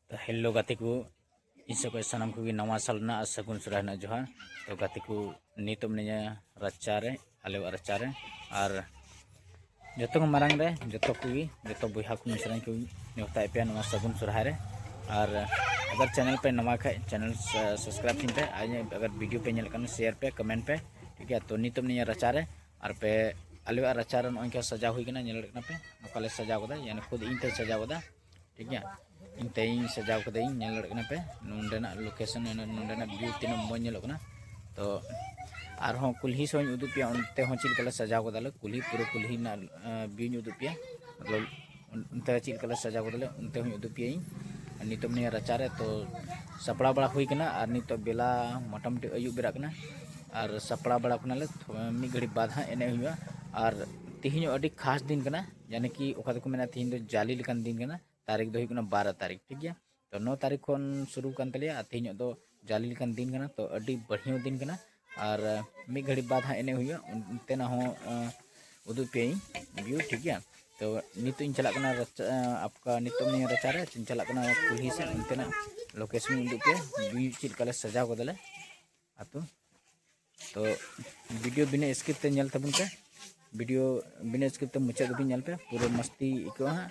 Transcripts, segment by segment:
ᱛᱚ ᱦᱮᱞᱳ ᱜᱟᱛᱮ ᱠᱚ ᱤᱧ ᱥᱮᱫ ᱠᱷᱚᱱ ᱥᱟᱱᱟᱢ ᱠᱚᱜᱮ ᱱᱟᱣᱟ ᱥᱟᱞ ᱨᱮᱱᱟᱜ ᱟᱨ ᱥᱟᱹᱜᱩᱱ ᱥᱚᱨᱦᱟᱭ ᱨᱮᱱᱟᱜ ᱡᱚᱦᱟᱨ ᱛᱚ ᱜᱟᱛᱮ ᱠᱚ ᱱᱤᱛᱚᱜ ᱢᱤᱱᱟᱹᱧᱟ ᱨᱟᱪᱟ ᱨᱮ ᱟᱞᱮᱣᱟᱜ ᱨᱟᱪᱟ ᱨᱮ ᱟᱨ ᱡᱚᱛᱚ ᱠᱚ ᱢᱟᱨᱟᱝ ᱨᱮ ᱡᱚᱛᱚ ᱠᱚᱜᱮ ᱡᱚᱛᱚ ᱵᱚᱭᱦᱟ ᱠᱚ ᱢᱤᱥᱨᱟᱧ ᱠᱚ ᱱᱮᱣᱛᱟᱭᱮᱫ ᱯᱮᱭᱟ ᱱᱚᱣᱟ ᱥᱟᱹᱜᱩᱱ ᱥᱚᱨᱦᱟᱭ ᱨᱮ ᱟᱨ ᱟᱜᱟᱨ ᱪᱮᱱᱮᱞ ᱯᱮ ᱱᱟᱣᱟ ᱠᱷᱟᱡ ᱪᱮᱱᱮᱞ ᱥᱟᱵᱥᱠᱨᱟᱭᱤᱵᱽ ᱛᱤᱧ ᱯᱮ ᱟᱨ ᱟᱜᱟᱨ ᱵᱷᱤᱰᱤᱭᱳ ᱯᱮ ᱧᱮᱞ ᱠᱷᱟᱱ ᱥᱮᱭᱟᱨ ᱯᱮ ᱠᱚᱢᱮᱱᱴ ᱯᱮ ᱴᱷᱤᱠ ᱜᱮᱭᱟ ᱛᱚ ᱱᱤᱛᱚᱜ ᱢᱤᱱᱟᱹᱧᱟ ᱨᱟᱪᱟ ᱨᱮ ᱟᱨ ᱯᱮ ᱟᱞᱮᱭᱟᱜ ᱨᱟᱪᱟ ᱨᱮ ᱱᱚᱜᱼᱚᱭ ᱱᱚᱝᱠᱟ ᱥᱟᱡᱟᱣ ᱦᱩᱭ ᱠᱟᱱᱟ ᱧᱮᱞ ᱫᱟᱲᱮᱭᱟᱜ ᱠᱟᱱᱟ ᱯᱮ ᱱᱚᱝᱠᱟ ᱞᱮ ᱥᱟᱡᱟᱣ ᱠᱟᱫᱟ ᱭᱟᱱᱮ ᱠᱷᱩᱫ ᱤᱧ ᱛᱮ ᱥᱟᱡᱟᱣ ᱠᱟᱫᱟ ᱴᱷᱤᱠ ᱜᱮᱭᱟ ᱤᱧ ᱛᱮᱧ ᱥᱟᱡᱟᱣ ᱠᱟᱹᱫᱟᱹᱧ ᱧᱮᱞ ᱫᱟᱲᱮᱭᱟᱜ ᱠᱟᱱᱟ ᱯᱮ ᱱᱚᱸᱰᱮᱱᱟᱜ ᱞᱳᱠᱮᱥᱚᱱ ᱱᱚᱸᱰᱮᱱᱟᱜ ᱵᱷᱤᱭᱩ ᱛᱤᱱᱟᱹᱜ ᱢᱚᱡᱽ ᱧᱮᱞᱚᱜ ᱠᱟᱱᱟ ᱛᱚ ᱟᱨᱦᱚᱸ ᱠᱩᱞᱦᱤ ᱥᱚᱧ ᱩᱫᱩᱜ ᱯᱮᱭᱟ ᱚᱱᱛᱮ ᱦᱚᱸ ᱪᱮᱫ ᱞᱮᱠᱟᱞᱮ ᱥᱟᱡᱟᱣ ᱠᱟᱫᱟᱞᱮ ᱠᱩᱞᱦᱤ ᱯᱩᱨᱟᱹ ᱠᱩᱞᱦᱤ ᱨᱮᱱᱟᱜ ᱵᱷᱤᱭᱩᱧ ᱩᱫᱩᱜ ᱯᱮᱭᱟ ᱢᱚᱛᱞᱚᱵ ᱚᱱᱛᱮ ᱨᱮ ᱪᱮᱫ ᱞᱮᱠᱟᱞᱮ ᱥᱟᱡᱟᱣ ᱠᱟᱫᱟᱞᱮ ᱚᱱᱛᱮ ᱦᱚᱸᱧ ᱩᱫᱩᱜ ᱯᱮᱭᱟᱹᱧ ᱟᱨ ᱱᱤᱛᱚᱜ ᱢᱤᱱᱟᱹᱧᱟ ᱨᱟᱪᱟ ᱨᱮ ᱛᱚ ᱥᱟᱯᱲᱟᱣ ᱵᱟᱲᱟ ᱦᱩᱭ ᱠᱟᱱᱟ ᱟᱨ ᱱᱤᱛᱚᱜ ᱵᱮᱞᱟ ᱢᱚᱴᱟᱢᱩᱴᱤ ᱟᱹᱭᱩᱵ ᱵᱮᱲᱟᱜ ᱠᱟᱱᱟ ᱟᱨ ᱥᱟᱯᱲᱟᱣ ᱵᱟᱲᱟ ᱠᱟᱱᱟᱞᱮ ᱢᱤᱫ ᱜᱷᱟᱹᱲᱤᱡ ᱵᱟᱫ ᱦᱟᱸᱜ ᱮᱱᱮᱡ ᱦᱩᱭᱩᱜᱼᱟ ᱟᱨ ᱛᱮᱦᱮᱧ ᱟᱹᱰᱤ ᱠᱷᱟᱥ ᱫᱤᱱ ᱠᱟᱱᱟ ᱡᱟᱱᱮ ᱠᱤ ᱚᱠᱟ ᱫᱚᱠᱚ ᱢᱮᱱᱟ ᱛᱮᱦᱮᱧ ᱫᱚ ᱡᱟᱞᱮ ᱞᱮᱠᱟᱱ ᱫᱤᱱ ᱠᱟᱱᱟ ᱛᱟᱹᱨᱤᱠᱷ ᱫᱚ ᱦᱩᱭᱩᱜ ᱠᱟᱱᱟ ᱵᱟᱨᱚ ᱛᱟᱹᱨᱤᱠᱷ ᱴᱷᱤᱠ ᱜᱮᱭᱟ ᱛᱚ ᱱᱚ ᱛᱟᱹᱨᱤᱠᱷ ᱠᱷᱚᱱ ᱥᱩᱨᱩ ᱠᱟᱱ ᱛᱟᱞᱮᱭᱟ ᱟᱨ ᱛᱮᱦᱮᱧᱚᱜ ᱫᱚ ᱡᱟᱞᱮ ᱞᱮᱠᱟᱱ ᱫᱤᱱ ᱠᱟᱱᱟ ᱛᱚ ᱟᱹᱰᱤ ᱵᱟᱹᱲᱦᱤᱭᱟᱹ ᱫᱤᱱ ᱠᱟᱱᱟ ᱟᱨ ᱢᱤᱫ ᱜᱷᱟᱹᱲᱤᱡ ᱵᱟᱫ ᱦᱟᱸᱜ ᱮᱱᱮᱡ ᱦᱩᱭᱩᱜᱼᱟ ᱚᱱᱛᱮᱱᱟᱜ ᱦᱚᱸ ᱩᱫᱩᱜ ᱯᱮᱭᱟᱹᱧ ᱵᱷᱤᱭᱩ ᱴᱷᱤᱠ ᱜᱮᱭᱟ ᱛᱚ ᱱᱤᱛᱚᱜ ᱤᱧ ᱪᱟᱞᱟᱜ ᱠᱟᱱᱟ ᱨᱟᱪᱟ ᱟᱯᱠᱟ ᱱᱤᱛᱚᱜ ᱱᱤᱭᱟᱹ ᱨᱟᱪᱟ ᱨᱮ ᱤᱧ ᱪᱟᱞᱟᱜ ᱠᱟᱱᱟ ᱠᱩᱞᱦᱤ ᱥᱮᱫ ᱚᱱᱛᱮᱱᱟᱜ ᱞᱳᱠᱮᱥᱚᱱ ᱤᱧ ᱩᱫᱩᱜ ᱯᱮᱭᱟ ᱵᱷᱤᱭᱩ ᱪᱮᱫ ᱞᱮᱠᱟ ᱞᱮ ᱥᱟᱡᱟᱣ ᱠᱟᱫᱟᱞᱮ ᱟᱛᱳ ᱛᱚ ᱵᱷᱤᱰᱤᱭᱳ ᱵᱤᱱᱟᱹ ᱥᱠᱤᱯ ᱛᱮ ᱧᱮᱞ ᱛᱟᱵᱚᱱ ᱯᱮ ᱵᱷᱤᱰᱤᱭᱳ ᱵᱤᱱᱟᱹ ᱥᱠᱤᱯ ᱛᱮ ᱢᱩᱪᱟᱹᱫ ᱫᱷᱟᱹᱵᱤᱡ ᱧᱮᱞ ᱯᱮ ᱯᱩᱨᱟᱹ ᱢᱟᱥᱛᱤ ᱟᱹᱭᱠᱟᱹᱜᱼᱟ ᱦᱟᱸᱜ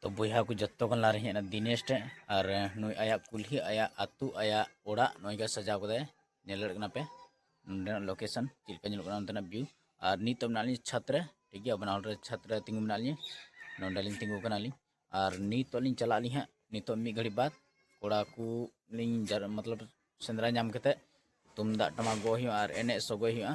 ᱛᱚ ᱵᱚᱭᱦᱟ ᱠᱚ ᱡᱚᱛᱚ ᱠᱷᱚᱱ ᱞᱟᱦᱟᱨᱮ ᱦᱮᱡ ᱮᱱᱟ ᱫᱤᱱᱮᱥ ᱴᱷᱮᱱ ᱟᱨ ᱱᱩᱭ ᱟᱭᱟᱜ ᱠᱩᱞᱦᱤ ᱟᱭᱟᱜ ᱟᱹᱛᱩ ᱟᱭᱟᱜ ᱚᱲᱟᱜ ᱱᱚᱜᱼᱚᱭ ᱜᱮ ᱥᱟᱡᱟᱣ ᱠᱟᱫᱟᱭ ᱧᱮᱞ ᱫᱟᱲᱮᱭᱟᱜ ᱠᱟᱱᱟ ᱯᱮ ᱱᱚᱸᱰᱮᱱᱟᱜ ᱞᱳᱠᱮᱥᱚᱱ ᱪᱮᱫ ᱞᱮᱠᱟ ᱧᱮᱞᱚᱜ ᱠᱟᱱᱟ ᱚᱱᱛᱮᱱᱟᱜ ᱵᱷᱤᱭᱩ ᱟᱨ ᱱᱤᱛᱚᱜ ᱢᱮᱱᱟᱜ ᱞᱤᱧ ᱪᱷᱟᱛ ᱨᱮ ᱴᱷᱤᱠ ᱜᱮᱭᱟ ᱵᱟᱱᱟ ᱦᱚᱲ ᱨᱮ ᱪᱷᱟᱛ ᱨᱮ ᱛᱤᱸᱜᱩ ᱢᱮᱱᱟᱜ ᱞᱤᱧ ᱱᱚᱸᱰᱮ ᱞᱤᱧ ᱛᱤᱸᱜᱩ ᱠᱟᱱᱟ ᱞᱤᱧ ᱟᱨ ᱱᱤᱛᱚᱜ ᱞᱤᱧ ᱪᱟᱞᱟᱜ ᱟᱹᱞᱤᱧ ᱦᱟᱸᱜ ᱱᱤᱛᱚᱜ ᱢᱤᱫ ᱜᱷᱟᱹᱲᱤᱡ ᱵᱟᱫ ᱠᱚᱲᱟ ᱠᱚ ᱞᱤᱧ ᱢᱚᱛᱞᱚᱵ ᱥᱮᱸᱫᱽᱨᱟ ᱧᱟᱢ ᱠᱟᱛᱮᱫ ᱛᱩᱢᱫᱟᱜ ᱴᱟᱢᱟᱠ ᱜᱚᱜ ᱦᱩᱭᱩᱜᱼᱟ ᱟᱨ ᱮᱱᱮᱡ ᱥᱚᱜᱚᱭ ᱦᱩᱭᱩᱜᱼᱟ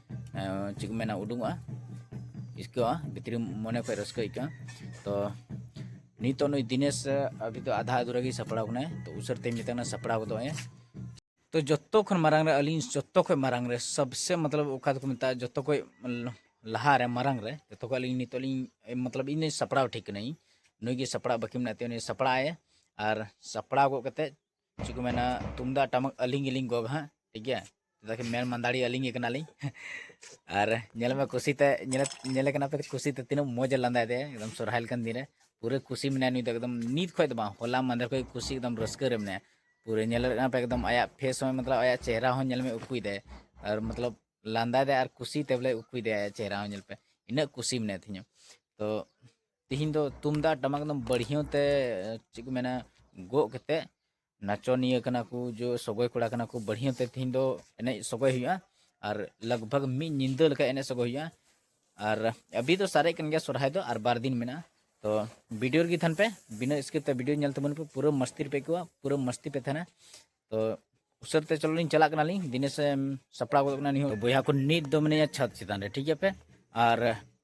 ᱪᱮᱫ ᱠᱚ ᱢᱮᱱᱟ ᱩᱰᱩᱝᱚᱜᱼᱟ ᱟᱹᱭᱠᱟᱹᱜᱼᱟ ᱵᱷᱤᱛᱨᱤ ᱢᱚᱱᱮ ᱠᱷᱚᱡ ᱨᱟᱹᱥᱠᱟᱹ ᱟᱹᱭᱠᱟᱹᱜᱼᱟ ᱛᱚ ᱱᱤᱛᱚᱜ ᱱᱩᱭ ᱫᱤᱱᱮᱥ ᱟᱵᱷᱤ ᱫᱚ ᱟᱫᱷᱟ ᱟᱫᱷᱩᱨᱟ ᱜᱮ ᱥᱟᱯᱲᱟᱣ ᱠᱟᱱᱟᱭ ᱛᱚ ᱩᱥᱟᱹᱨ ᱛᱮᱧ ᱢᱮᱛᱟᱜ ᱠᱟᱱᱟ ᱥᱟᱯᱲᱟᱣ ᱜᱚᱫᱚᱜ ᱮ ᱛᱚ ᱡᱚᱛᱚ ᱠᱷᱚᱱ ᱢᱟᱨᱟᱝ ᱨᱮ ᱟᱹᱞᱤᱧ ᱡᱚᱛᱚ ᱠᱷᱚᱱ ᱢᱟᱨᱟᱝ ᱨᱮ ᱥᱚᱵᱥᱮ ᱢᱚᱛᱞᱚᱵ ᱚᱠᱟ ᱫᱚᱠᱚ ᱢᱮᱛᱟᱜᱼᱟ ᱡᱚᱛᱚ ᱠᱷᱚᱱ ᱞᱟᱦᱟ ᱨᱮ ᱢᱟᱨᱟᱝ ᱨᱮ ᱡᱚᱛᱚ ᱠᱷᱚᱱ ᱟᱹᱞᱤᱧ ᱱᱤᱛᱚᱜ ᱞᱤᱧ ᱢᱚᱛᱞᱚᱵ ᱤᱧ ᱥᱟᱯᱲᱟᱣ ᱴᱷᱤᱠ ᱠᱟᱹᱱᱟᱹᱧ ᱱᱩᱭ ᱜᱮ ᱥᱟᱯᱲᱟᱣ ᱵᱟᱹᱠᱤ ᱢᱮᱱᱟᱜ ᱛᱟᱭᱟ ᱩᱱᱤ ᱥᱟᱯᱲᱟᱣ ᱮ ᱟᱨ ᱥᱟᱯᱲᱟᱣ ᱜᱚᱫ ᱠᱟᱛᱮᱫ ᱪᱮᱫ ᱠᱚ ᱢᱮᱱᱟ ᱛᱩᱢᱫᱟᱜ ᱴᱟᱢᱟᱠ ᱟᱹᱞᱤᱧ ᱜᱮᱞᱤᱧ ᱜᱚᱜᱟ ᱦᱟᱸᱜ ᱴᱷᱤᱠ ᱜᱮᱭᱟ ᱪᱮᱫᱟᱜ ᱠᱤ ᱢᱮᱱ ᱢᱟᱱᱫᱟᱲᱤ ᱟᱹᱞᱤᱧ ᱜᱮ ᱠᱟᱱᱟᱞᱤᱧ ᱟᱨ ᱧᱮᱞ ᱢᱮ ᱠᱩᱥᱤᱛᱮ ᱧᱮᱞ ᱧᱮᱞᱮ ᱠᱟᱱᱟ ᱯᱮ ᱠᱩᱥᱤᱛᱮ ᱛᱤᱱᱟᱹᱜ ᱢᱚᱡᱽ ᱮ ᱞᱟᱸᱫᱟᱭ ᱛᱟᱭᱟ ᱮᱠᱫᱚᱢ ᱥᱚᱨᱦᱟᱭ ᱞᱮᱠᱟᱱ ᱫᱤᱱ ᱨᱮ ᱯᱩᱨᱟᱹ ᱠᱩᱥᱤ ᱢᱮᱱᱟᱭᱟ ᱱᱩᱭ ᱫᱚ ᱮᱠᱫᱚᱢ ᱱᱤᱛ ᱠᱷᱚᱡ ᱫᱚ ᱵᱟᱝ ᱦᱚᱞᱟ ᱢᱟᱫᱷᱮᱨ ᱠᱷᱚᱡ ᱠᱩᱥᱤ ᱮᱠᱫᱚᱢ ᱨᱟᱹᱥᱠᱟᱹ ᱨᱮ ᱢᱮᱱᱟᱭᱟ ᱯᱩᱨᱟᱹ ᱧᱮᱞ ᱠᱟᱱᱟ ᱯᱮ ᱮᱠᱫᱚᱢ ᱟᱭᱟᱜ ᱯᱷᱮᱥ ᱦᱚᱸ ᱢᱚᱛᱞᱚᱵ ᱟᱭᱟᱜ ᱪᱮᱦᱨᱟ ᱦᱚᱸ ᱧᱮᱞ ᱢᱮ ᱩᱠᱩᱭ ᱫᱟᱭ ᱟᱨ ᱢᱚᱛᱞᱚᱵ ᱞᱟᱸᱫᱟᱭ ᱫᱟᱭ ᱟᱨ ᱠᱩᱥᱤᱛᱮ ᱵᱚᱞᱮ ᱩᱠᱩᱭ ᱫᱟᱭ ᱟᱭᱟᱜ ᱪᱮᱦᱨᱟ ᱦᱚᱸ ᱧᱮᱞ ᱯᱮ ᱤᱱᱟᱹᱜ ᱠᱩᱥᱤ ᱢᱮᱱᱟᱭ ᱛᱤᱧᱟᱹ ᱛᱚ ᱛᱤᱦᱤᱧ ᱫᱚ ᱛᱩᱢᱫᱟᱜ ᱴᱟᱢᱟᱠ ᱫᱚ ᱵᱟᱹᱲᱦᱤᱭᱟᱹ ᱛᱮ ᱪᱮᱫ ᱠᱚ ᱢᱮᱱᱟ ᱜᱚᱜ ᱠᱟᱛᱮ ᱱᱟᱪᱚᱱᱤᱭᱟᱹ ᱠᱟᱱᱟ ᱠᱚ ᱡᱚ ᱥᱚᱜᱚᱭ ᱠᱚᱲᱟ ᱠᱟᱱᱟ ᱠᱚ ᱵᱟᱹᱲᱦᱤᱭᱟᱹ ᱛᱮ ᱛᱤᱦᱤᱧ ᱫᱚ ᱮᱱᱮᱡ ᱥᱚᱜᱚᱭ ᱦᱩᱭᱩᱜᱼᱟ ᱟᱨ ᱞᱟᱜᱽ ᱵᱷᱟᱜᱽ ᱢᱤᱫ ᱧᱤᱫᱟᱹ ᱞᱮᱠᱟ ᱮᱱᱮᱡ ᱥᱚᱜᱚᱭ ᱦᱩᱭᱩᱜᱼᱟ ᱟᱨ ᱟᱵᱤ ᱫᱚ ᱥᱟᱨᱮᱡ ᱠᱟᱱ ᱜᱮᱭᱟ ᱥᱚᱨᱦᱟᱭ ᱫᱚ ᱟᱨ ᱵᱟᱨ ᱫᱤᱱ ᱢᱮᱱᱟᱜᱼᱟ ᱛᱚ ᱵᱷᱤᱰᱤᱭᱳ ᱨᱮᱜᱮ ᱛᱟᱦᱮᱱ ᱯᱮ ᱵᱤᱱᱟᱹ ᱥᱠᱤᱯ ᱛᱮ ᱵᱷᱤᱰᱤᱭᱳ ᱧᱮᱞ ᱛᱟᱵᱚᱱ ᱯᱮ ᱯᱩᱨᱟᱹ ᱢᱟᱥᱛᱤ ᱨᱮᱯᱮ ᱟᱹᱭᱠᱟᱹᱣᱟ ᱯᱩᱨᱟᱹ ᱢᱟᱥᱛᱤ ᱯᱮ ᱛᱟᱦᱮᱱᱟ ᱛᱚ ᱩᱥᱟᱹᱨ ᱛᱮ ᱪᱚᱞᱚ ᱞᱤᱧ ᱪᱟᱞᱟᱜ ᱠᱟᱱᱟᱞᱤᱧ ᱫᱤᱱᱮᱥ ᱥᱟᱯᱲᱟᱣ ᱜᱚᱫ ᱠᱟᱱᱟ ᱱᱤᱦᱚᱸ ᱵᱚᱭᱦᱟ ᱠᱚ ᱱᱤᱛ ᱫᱚ ᱢᱮᱱᱟᱭᱟ ᱪᱷᱟᱛ ᱪᱮᱛᱟᱱ ᱨᱮ ᱴᱷᱤᱠ ᱜᱮᱭᱟ ᱯᱮ ᱟᱨ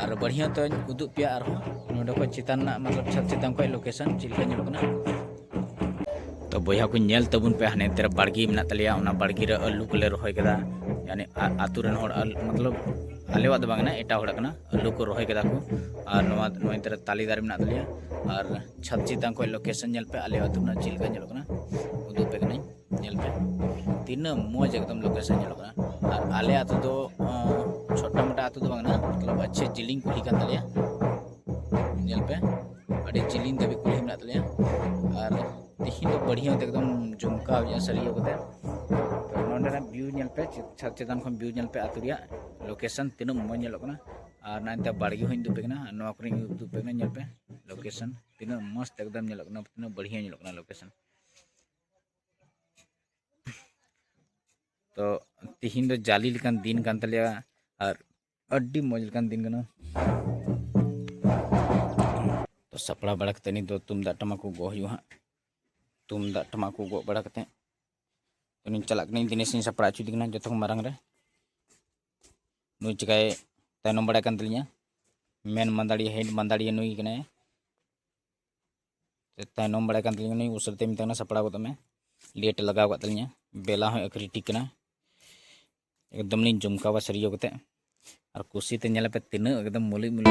ᱟᱨ ᱵᱟᱹᱲᱦᱤᱭᱟᱹ ᱛᱮᱧ ᱩᱫᱩᱜ ᱯᱮᱭᱟ ᱟᱨᱦᱚᱸ ᱱᱚᱰᱮ ᱠᱷᱚᱱ ᱪᱮᱛᱟᱱ ᱨᱮᱱᱟᱜ ᱢᱚᱛᱞᱚᱵ ᱪᱷᱟᱛ ᱪᱮᱛᱟᱱ ᱠᱷᱚᱱ ᱞᱳᱠᱮᱥᱚᱱ ᱪᱮᱫ ᱞᱮᱠᱟ ᱧᱮᱞᱚᱜ ᱠᱟᱱᱟ ᱛᱚ ᱵᱚᱭᱦᱟ ᱠᱚ ᱧᱮᱞ ᱛᱟᱵᱚᱱ ᱯᱮ ᱦᱟᱱᱮ ᱛᱮᱨᱮ ᱵᱟᱲᱜᱮ ᱢᱮᱱᱟᱜ ᱛᱟᱞᱮᱭᱟ ᱚᱱᱟ ᱵᱟᱲᱜᱮ ᱨᱮ ᱟᱹᱞᱩ ᱠᱚᱞᱮ ᱨᱚᱦᱚᱭ ᱠᱮᱫᱟ ᱭᱟᱱᱮ ᱟᱛᱳ ᱨᱮᱱ ᱦᱚᱲ ᱢᱚᱛᱞᱚᱵ ᱟᱞᱮᱣᱟᱜ ᱫᱚ ᱵᱟᱝ ᱠᱟᱱᱟ ᱮᱴᱟᱜ ᱦᱚᱲᱟᱜ ᱠᱟᱱᱟ ᱟᱹᱞᱩ ᱠᱚ ᱨᱚᱦᱚᱭ ᱠᱮᱫᱟ ᱠᱚ ᱟᱨ ᱱᱚᱣᱟ ᱱᱚᱣᱟ ᱛᱮᱨᱮ ᱛᱟᱞᱮ ᱫᱟᱨᱮ ᱢᱮᱱᱟᱜ ᱛᱟᱞᱮᱭᱟ ᱟᱨ ᱪᱷᱟᱛ ᱪᱮᱛᱟᱱ ᱠᱷᱚᱱ ᱞᱳᱠᱮᱥᱚᱱ ᱧᱮᱞ ᱯᱮ ᱟᱞᱮ ᱟᱛᱳ ᱨᱮᱱᱟᱜ ᱪᱮᱫ ᱞᱮᱠᱟ ᱧᱮᱞᱚᱜ ᱠᱟᱱᱟ ᱩᱫᱩᱜ ᱯᱮ ᱠᱟᱹᱱᱟᱹᱧ ᱧᱮᱞ ᱯᱮ ᱛᱤᱱᱟᱹᱜ ᱢᱚᱡᱽ ᱮᱠᱫᱚᱢ ᱞᱳᱠᱮᱥᱚᱱ ᱧᱮᱞᱚᱜ ᱠᱟᱱᱟ ᱟᱨ ᱟᱞᱮ ᱟᱛᱳ ᱫᱚ ᱪᱷᱳᱴᱟ ᱢᱳᱴᱟ ᱟᱛᱳ ᱫᱚ ᱵᱟᱝ ᱠᱟᱱᱟ ᱢᱚᱛᱞᱚᱵ ᱟᱪᱪᱷᱟ ᱡᱤᱞᱤᱧ ᱠᱩᱞᱦᱤ ᱠᱟᱱ ᱛᱟᱞᱮᱭᱟ ᱧᱮᱞ ᱯᱮ ᱟᱹᱰᱤ ᱡᱤᱞᱤᱧ ᱫᱷᱟᱹᱵᱤᱡ ᱠᱩᱞᱦᱤ ᱢᱮᱱᱟᱜ ᱛᱟᱞᱮᱭᱟ ᱟᱨ ᱛᱤᱦᱤᱧ ᱫᱚ ᱵᱟᱹᱲᱦᱤᱭᱟᱹ ᱛᱮ ᱮᱠᱫᱚᱢ ᱡᱚᱢᱠᱟᱣ ᱧᱚᱜ ᱥᱟᱹᱨᱤᱭᱟᱹ ᱠᱟᱛᱮ ᱛᱚ ᱱᱚᱸᱰᱮᱱᱟᱜ ᱵᱷᱤᱭᱩ ᱧᱮᱞ ᱯᱮ ᱪᱷᱟᱫᱽ ᱪᱮᱛᱟᱱ ᱠᱷᱚᱱ ᱵᱷᱤᱭᱩ ᱧᱮᱞ ᱯᱮ ᱟᱛᱳ ᱨᱮᱭᱟᱜ ᱞᱳᱠᱮᱥᱚᱱ ᱛᱤᱱᱟᱹᱜ ᱢᱚᱡᱽ ᱧᱮᱞᱚᱜ ᱠᱟᱱᱟ ᱟᱨ ᱱᱟᱭᱛᱮ ᱵᱟᱲᱜᱮ ᱦᱚᱸᱧ ᱩᱫᱩᱜ ᱯᱮ ᱠᱟᱱᱟ ᱟᱨ ᱱᱚᱣᱟ ᱠᱚᱨᱮᱧ ᱩᱫᱩᱜ ᱯᱮ ᱠᱟᱱᱟ ᱧᱮᱞ ᱯᱮ ᱞᱳᱠᱮᱥᱚᱱ ᱛᱤᱱᱟᱹᱜ ᱢᱚᱡᱽ ᱮᱠᱫᱚᱢ ᱧᱮᱞᱚᱜ ᱠᱟᱱᱟ ᱛᱤᱱᱟᱹᱜ ᱵᱟᱹᱲᱦᱤᱭᱟᱹ ᱧᱮᱞᱚᱜ ᱠᱟᱱᱟ ᱞᱳᱠᱮᱥᱚᱱ ᱛᱚ ᱛᱤᱦᱤᱧ ᱫᱚ ᱡᱟᱞᱤ ᱞᱮᱠᱟᱱ ᱫᱤᱱ ᱠᱟᱱ ᱛᱟᱞᱮᱭᱟ ᱟᱨ ᱟᱹᱰᱤ ᱢᱚᱡᱽ ᱞᱮᱠᱟᱱ ᱫᱤᱱ ᱠᱟᱱᱟ ᱛᱚ ᱥᱟᱯᱲᱟᱣ ᱵᱟᱲᱟ ᱠᱟᱛᱮ ᱱᱤᱛ ᱫᱚ ᱛᱩᱢᱫᱟᱜ ᱴᱟᱢᱟᱠ ᱠᱚ ᱜᱚᱜ ᱦᱩᱭᱩᱜᱼᱟ ᱦᱟᱸᱜ ᱛᱩᱢᱫᱟᱜ ᱴᱟᱢᱟᱠ ᱠᱚ ᱜᱚᱜ ᱵᱟᱲᱟ ᱠᱟᱛᱮ ᱩᱱᱤᱧ ᱪᱟᱞᱟᱜ ᱠᱟᱹᱱᱟᱹᱧ ᱫᱤᱱᱮᱥᱤᱧ ᱥᱟᱯᱲᱟᱣ ᱦᱚᱪᱚᱭᱮᱫᱮ ᱠᱟᱱᱟ ᱡᱚᱛᱚ ᱠᱷᱚᱱ ᱢᱟᱨᱟᱝ ᱨᱮ ᱱᱩᱭ ᱪᱤᱠᱟᱭ ᱛᱟᱭᱱᱚᱢ ᱵᱟᱲᱟᱭ ᱠᱟᱱ ᱛᱟᱹᱞᱤᱧᱟ ᱢᱮᱱ ᱢᱟᱸᱫᱟᱲᱤᱭᱟᱹ ᱦᱮᱰ ᱢᱟᱸᱫᱟᱲᱤᱭᱟᱹ ᱱᱩᱭ ᱠᱟᱱᱟᱭ ᱛᱟᱭᱱᱚᱢ ᱵᱟᱲᱟᱭ ᱠᱟᱱ ᱛᱟᱹᱞᱤᱧ ᱩᱱᱤ ᱩᱥᱟᱹᱨᱟᱛᱮ ᱢᱮᱛᱟᱭ ᱠᱟᱱᱟ ᱥᱟᱯᱲᱟᱣ ᱜᱚᱫᱚᱜ ᱢᱮ ᱞᱮᱴ ᱞᱟᱜᱟᱣ ᱠᱟᱜ ᱛᱟᱹᱞᱤᱧᱟ ᱵᱮᱞᱟ ᱦᱚᱸ ᱟᱹᱠᱷᱨᱤ ᱴᱷᱤᱠ ᱠᱟᱱᱟ ᱮᱠᱫᱚᱢ ᱞᱤᱧ ᱡᱚᱢᱠᱟᱣᱟ ᱥᱟᱹᱨᱤᱭᱟᱹ ᱠᱟᱛᱮ ᱟᱨ ᱠᱩᱥᱤᱛᱮ ᱧᱮᱞ ᱯᱮ ᱛᱤᱱᱟᱹᱜ ᱮᱠᱫᱚᱢ ᱢᱩᱞᱤ ᱢᱩᱞᱤ